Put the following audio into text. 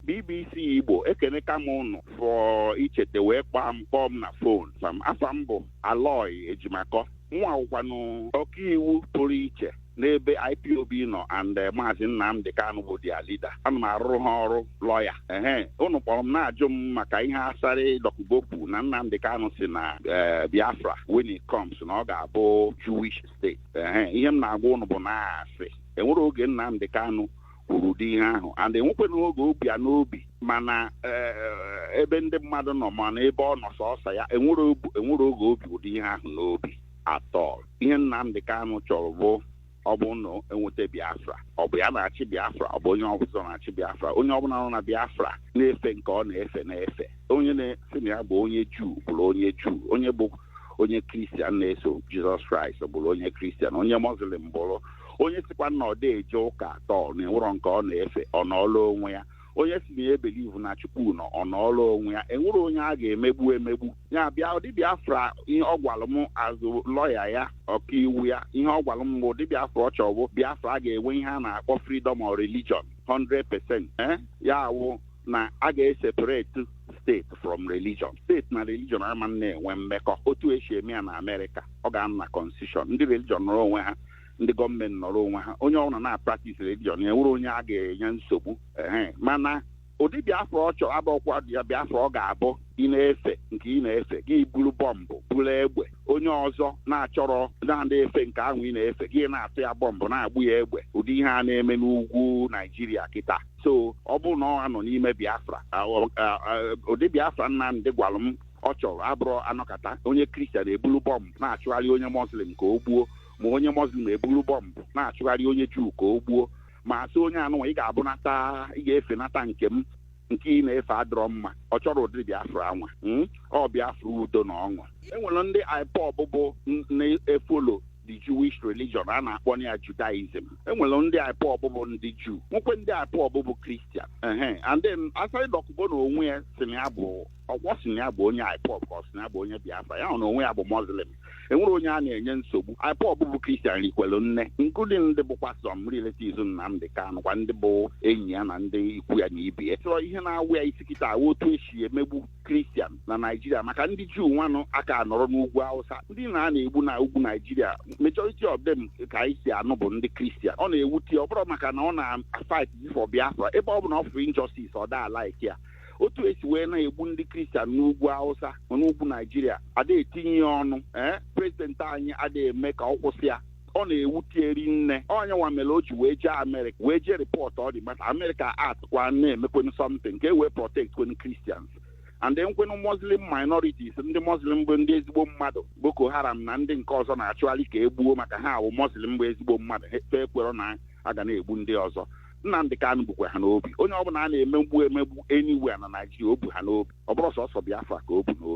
bbc igbo ekeneka m ụnụ for ichete wee kpọọ m kpọọ m na fon afa m afa m bụ aloy ejimakọ mụnwa wụkwanụ ọkaiwu pụrụ iche n'ebe ipob nọ and eh, maazị nnamdị kanụ bụ their leader ana m arụrụ ha ọrụ lọya ehe ụnụ kpọrọ m na-ajụ m maka ihe asarị dọkụbo kwu na nnamdị kanụ si na eh, biafra when it comes na ọ ga-abụ jewish state ehe ihe m na-agwa ụnụ bụ na ọ asị enwerọ oge nnamdị kanụ kwuru ụdị ihe ahụ and enwekwana oge o bu ya n'obi ma na eh, ebe ndị mmadụ nọ ma na ebe ọ nọ sọsọ ya enwerọ o bu- enwerọ oge o bu ụdị ihe ahụ n'obi at all ihe Nnamdị Kanụ chọrọ bụ ọ bụ na enweta Biafra ọ bụ ya na-achị Biafra ọ bụ onye ọbụla na-achị Biafra onye ọbụla nọ na Biafra na-efe nke ọ na-efe na-efe onye na-asị na ya bụ onye Juu bụrụ onye Juu onye bụ onye kristian na-eso jizọs kraịst bụrụ onye kristian onye muslim bụrụ onye sikwa na ọ dị eje ụka at all na enwerọ nke ọ na-efe ọ nọọla onwe ya onye si na ya ebelivu na chukwu nọ ọ nọọla onwe ya enwerọ onye a ga-emegbu emegbu ya bụ ụdị biafra ihe ọ gwara m as lọya ya ọkaiwu ya ihe ọ gwara m bụ ụdị biafra ọ chọrọ bụ biafra a ga-enwe ihe a na-akpọ freedom of religion 100% ee ya wụ na a ga-eseparate state from religion state na religion ama na-enwe mmekọ otu esi eme ya na amerịka ọ ga-anọ na constitution ndị religion nọrọ onwe ha ndị gọọmenti nọrọ onwe ha onye ọbụla na-apractise religion ya enwerọ onye a ga-enye nsogbu ehe mana ụdị biafra ọ chọrọ abụrọkwadị ya biafra ọ ga-abụ ị na-efe nke ị na-efe gị buru bọmbụ buru egbe onye ọzọ na-achọrọ na-adị efe nke ahụ ị na-efe gị na-atụ ya bọmbụ na-agba ya egbe ụdị ihe a na-eme n'ugwu naijiria kịta so ọ bụrụ na ọ nọ n'ime biafra a- ọ- a- a- ụdị biafra nnamdị gwara m ọ chọrọ abụrọ anọkata onye kristian ebulu bọmbụ na-achụgharị onye muslim ka o gbuo ma onye muslim eburu bọmbụ na-achụgharị onye juu ka o gbuo ma asị onye anụnwa ị ga-abụnata ị ga-efenata nke m nke ị na-efe adịrọ mma ọ chọrọ ụdịrị biafra anwa mm? ọ biafra udo na ọṅụ e nwere ndị ipob bụ n- na-efollow the jewish religion a na-akpọ ya judaism e nwere ndị ipob bụ ndị juu nwekwee ndị ipob bụ kristian ehe and then asarị dọkụbo na onwe ya si na ya bụ ọkwa o si na ya bụ onye IPOB ka ọ si na ya bụ onye Biafra ya na onwe ya bụ Muslim enwerọ onye a na-enye nsogbu IPOB bụ Christian rikwelu nne including ndị bụkwa some relatives Nnamdị Kanụ kwa ndị bụ enyi ya na ndị ikwu ya na ibe ya so ihe na-awa ya isi kịta wụ otu esi emegbu Christian na Naijiria maka ndị Juu nwanụ aka anọrọ n'ugwu Hausa ndị na a na-egbu na ugwu Naijiria majority of them ka anyị si anụ bụ ndị Christian ọ na-ewute ọ bụrọ maka na ọ na-fight for Biafra ebe ọbụna ọ fụrụ injustice ọ da like ya otu e si wee na-egbu ndị kristian n'ugwu hausa n'ugwu naijiria ada etinye ya ọnụ ee prezidenti anyị ada eme ka ọ kwụsị ya ọ na-ewute ya ri nne ọ nya nwa mere o ji wee jee amerịka wee jee rịpọtụọ the matter amerịka act kwa na-emekwenụ something ka e wee protect kwenụ kristians and then kwenụ muslim minorities ndị muslim bụ ndị ezigbo mmadụ boko haram na ndị nke ọzọ na-achụgharị ka e gbuo maka ha wụ muslim bụ ezigbo mmadụ ha ekwero na a ga na-egbu ndị ọzọ Nnamdị Kanụ bukwa ha n'obi onye ọbụla a na-emegbu emegbu anywhere na Naijiria o bu ha n'obi ọ bụrọ sọsọ Biafra ka o bu n'obi